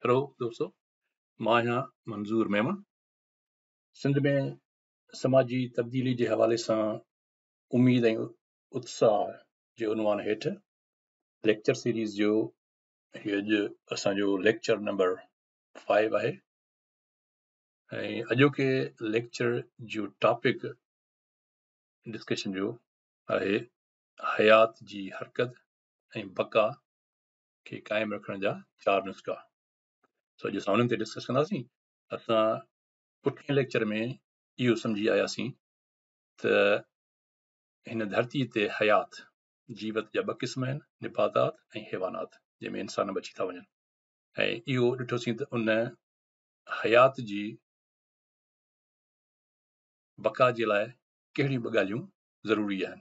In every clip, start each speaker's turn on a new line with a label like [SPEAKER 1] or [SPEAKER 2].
[SPEAKER 1] Hello دوستو مان آهيان منظور ميمڻ سنڌ ۾ سماجي تبديلي جي حوالي سان اميد ۽ اتساهه جي عنوان هيٺ ليڪچر سيريز جو هي اڄ اسان جو ليڪچر نمبر فائيو آهي ۽ اڄوڪي ليڪچر جو ٽاپڪ ڊسڪشن جو آهي حيات جي حرڪت ۽ بقا کي قائم رکڻ جا چار نسخا سو اڄ اسان انهن تي ڊسڪس ڪنداسين اسان پٺين ليڪچر ۾ اهو سمجهي آياسين ته هن ڌرتي تي حيات جيوت جا ٻه قسم آهن نباتات ۽ حيوانات جنهن ۾ انسان بچي ٿا وڃن ۽ اهو ڏٺوسين ته ان حيات جي بقا جي لاء ڪهڙيون ٻه ڳالهيون ضروري آهن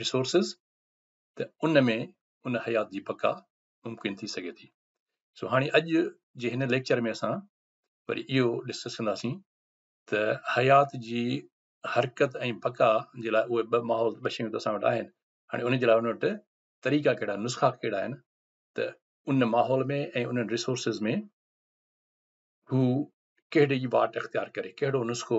[SPEAKER 1] Resources، ته ان ۾ ان حيات جي بقا ممڪن ٿي سگهي ٿي. سو هاڻي اڄ جي هن ليڪچر ۾ اسان وري اهو ڊسڪس ڪنداسين ته حيات جي حرڪت ۽ بقا جي لاء اهي ٻه ماحول ٻه شيون ته اسان وٽ آهن هاڻي ان جي لاء ان وٽ طريقا ڪهڙا نسخا ڪهڙا آهن ته ان ماحول ۾ ۽ انهن ريسورسز ۾ هو ڪهڙي واٽ اختيار ڪري ڪهڙو نسخو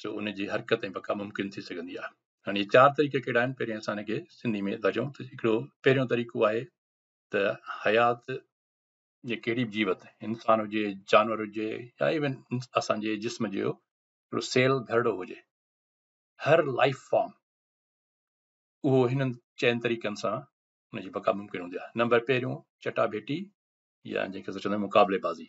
[SPEAKER 1] سو ان جي حرڪت ۽ بقا ممڪن ٿي سگهندي آهي هاڻي هي چار طريقا ڪهڙا آهن پهرين اسان هن کي سنڌي ۾ ٿا چون ته هڪڙو پهريون طريقو آهي ته حيات جي ڪهڙي به جيوت انسان هجي جانور هجي يا ايون اسان جي جسم جو هڪڙو سيل گهرڙو هجي هر لائف فارم اهو هنن چئن طريقن سان ان جي بقا ممڪن هوندي آهي نمبر پهريون چٽا ڀيٽي يا جنهن کي چوندا مقابلي بازي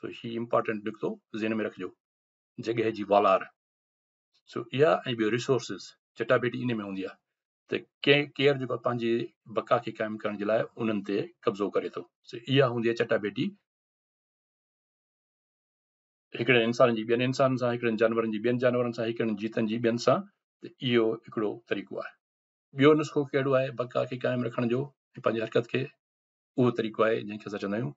[SPEAKER 1] سو هي امپارٽنٽ نڪتو ذهن ۾ رکجو جڳهه جي والار سو اها ۽ ٻيو ريسورسز چٽاڀيٽي ان ۾ هوندي آهي ته ڪنهن ڪيئر جيڪو پنهنجي بقا کي قائم ڪرڻ جي لاء انهن تي قبضو ڪري ٿو سو اها هوندي آهي چٽاڀيٽي هڪڙن انسانن جي ٻين انسانن سان هڪڙن جانورن جي ٻين جانورن سان هڪڙن جيتن جي ٻين سان ته اهو هڪڙو طريقو آهي ٻيو نسخو کيڙو آهي بقا کي قائم رکڻ جو پنهنجي حرڪت کي اهو طريقو آهي جنهن کي اسان چوندا آهيون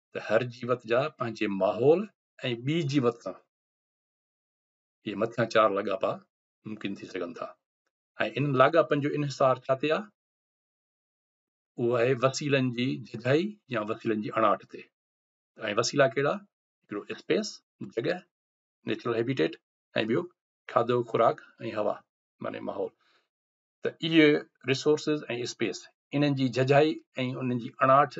[SPEAKER 1] ته هر جيوت جا پنهنجي ماحول ۽ ٻي جيوت سان اهي مٿيان چار لاڳاپا ممڪن ٿي سگهن ٿا ۽ انهن لاڳاپن جو انحصار ڇا تي آهي اهو آهي وسيلن جي جھجھائي يا وسيلن جي اڻاٺ تي ۽ وسيلا ڪهڙا هڪڙو اسپيس جڳهه نيچرل هيبيٽيٽ ۽ ٻيو کاڌو خوراڪ ۽ هوا معنی ماحول ته اهي رسورسز ۽ اسپيس انهن جي جھجھائي ۽ انهن جي اڻاٺ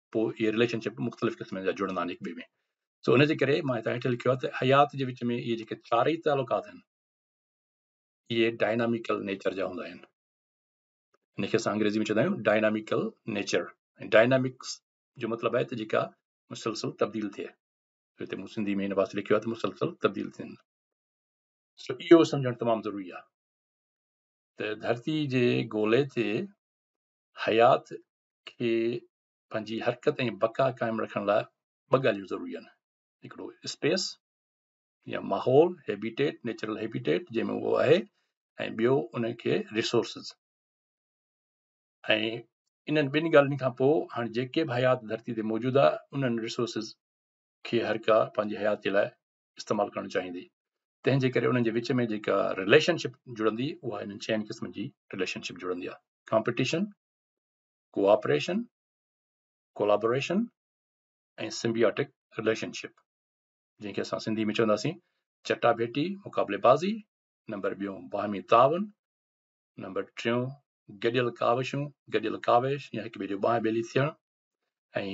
[SPEAKER 1] پوء اهي رليشن شپ مختلف قسمن جا جڙندا آهن هڪ ٻئي ۾ سو ان جي ڪري مان هتان هيٺ لکيو آهي ته حيات جي وچ ۾ اهي جيڪي چارئي تعلقات آهن اهي ڊائناميڪل نيچر جا هوندا آهن ان کي اسان انگريزي ۾ چوندا آهيون ڊائناميڪل نيچر ڊائنامڪس جو مطلب آهي ته جيڪا مسلسل تبديل ٿئي هتي مون سنڌي ۾ هن واسطي لکيو آهي ته مسلسل تبديل ٿين سو اهو سمجھڻ تمام ضروري آهي ته ڌرتي جي گولي تي حيات کي پنهنجي حرڪت ۽ بقا قائم رکڻ لاء ٻه ڳالهيون ضروري آهن، هڪڙو اسپيس يا ماحول، هيبيٽيٽ، نيچرل هيبيٽيٽ جنهن ۾ اهو آهي ۽ ٻيو ان کي ريسورسز ۽ انهن ٻن ڳالهين کان پوء هاڻي جيڪي به حيات ڌرتي تي موجود آهي انهن ريسورسز کي هر ڪا پنهنجي حياتي لاء استعمال ڪرڻ چاهيندي تنهن جي ڪري انهن جي وچ ۾ جيڪا رليشنشپ جڙندي اها انهن چئن قسمن جي رليشنشپ جڙندي آهي competition cooperation collaboration ۽ symbiotic relationship جنهن کي اسان سنڌي ۾ چونداسين چٽا ڀيٽي مقابلي بازي نمبر ٻيو باهمي تعاون نمبر ٽيون گڏيل ڪاوشون گڏيل ڪاوش يا هڪ ٻئي جو بانهه ٻيلي ٿيڻ ۽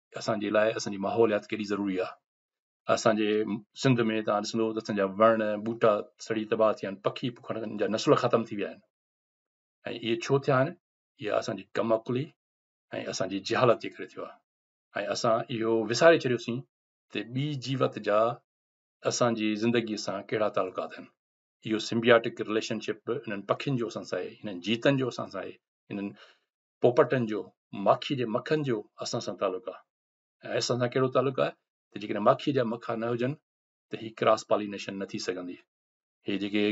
[SPEAKER 1] اسان جي لاء اسان جي ماحوليات ڪيڏي ضروري آهي اسان جي سنڌ ۾ تان ڏسندو ته اسان جا وڻ ٻوٽا سڙي تباهه ٿيا آهن پکي پکڙ جا نسل ختم ٿي ويا آهن ۽ اهي ڇو ٿيا آهن اها اسان جي ڪم عقلي ۽ اسان جي جهالت جي ڪري ٿيو آهي ۽ اسان اهو وساري ڇڏيوسين ته ٻي جيوت جا اسان جي زندگي سان ڪهڙا تعلقات آهن اهو سمبياٽڪ رليشن شپ انهن پکين جو اسان سان آهي انهن جيتن جو اسان سان آهي انهن پوپٽن جو ماکي جي مکن جو اسان سان تعلق آهي ۽ اسان سان ڪهڙو تعلق آهي ته جيڪڏهن ماکي جا مکا نه هجن ته هي ڪراس پالينيشن نه ٿي سگهندي هي جيڪي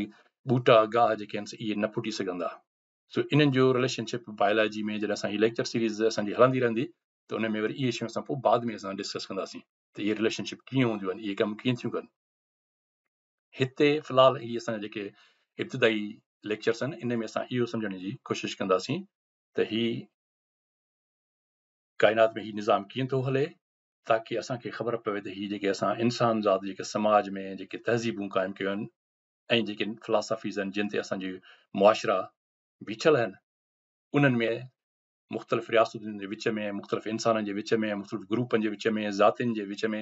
[SPEAKER 1] ٻوٽا گاهه جيڪي آهن اهي نه ڦٽي سگهندا سو انهن جو رليشنشپ بايولاجي ۾ جڏهن اسان هي ليڪچر سيريز اسانجي هلندي رهندي ته ان ۾ وري اهي شيون اسان پوء بعد ۾ اسان ڊسڪس ڪنداسين ته اهي رليشنشپ ڪيئن هونديون آهن اهي ڪم ڪيئن ٿيون ڪن هتي في الحال هي اسان جا جيڪي ابتدائي ليڪچرس آهن ان ۾ اسان اهو سمجهڻ جي ڪوشش ڪنداسين ته هي ڪائنات ۾ هي نظام ڪيئن ٿو هلي تاڪي اسانکي خبر پوي ته هي جيڪي اسان انسان ذات جيڪي سماج ۾ جيڪي تهذيبون قائم ڪيون آهن ۽ جيڪي فلاسافيز آهن جن تي اسانجي معاشرا بيٺل آهن انهن ۾ مختلف رياستن جي وچ ۾ مختلف انسانن جي وچ ۾ مختلف گروپن جي وچ ۾ ذاتين جي وچ ۾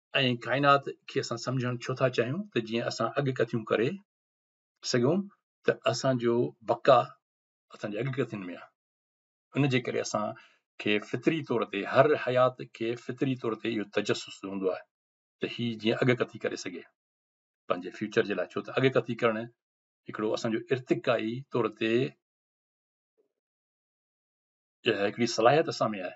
[SPEAKER 1] ۽ ڪائنات کي اسان سمجهڻ ڇو ٿا چاهيون ته جيئن اسان اڳڪٿيون ڪري سگهون ته اسان جو بقا اسان جي اڳڪٿين ۾ آهي ان جي ڪري اسان کي فطري طور تي هر حيات کي فطري طور تي اهو تجسس هوندو آهي ته هي جيئن اڳڪٿي ڪري سگهي پنهنجي فيوچر جي لاء ڇو ته اڳڪٿي ڪرڻ هڪڙو اسان جو ارتقائي طور تي اها هڪڙي صلاحيت اسان ۾ آهي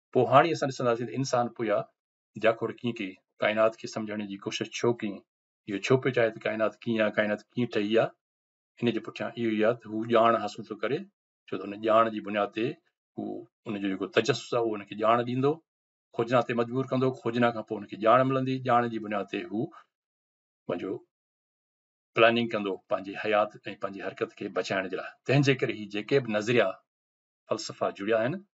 [SPEAKER 1] پوء هاڻي اسان ڏسنداسين ته انسان پويا جاکوڙ ڪيئن ڪئي، ڪائنات کي سمجهڻ جي ڪوشش ڇو ڪيئي، اهو ڇو پيو چاهي ته ڪائنات ڪيئن آهي، ڪائنات ڪيئن ٺهي آهي، ان جي پٺيان اهو ئي آهي ته هو ڄاڻ حاصل ٿو ڪري، ڇو ته ان ڄاڻ جي بنياد تي هو ان جو جيڪو تجسس آهي اهو ان کي ڄاڻ ڏيندو، کوجنا تي مجبور ڪندو، کوجنا کان پوء ان کي ڄاڻ ملندي، ڄاڻ جي بنياد تي هو پنهنجو پلاننگ ڪندو پنهنجي حيات ۽ پنهنجي حرڪت کي بچائڻ جي لاء، تنهن جي ڪري هي جيڪي به نظريا فلسفا جڙيا آهن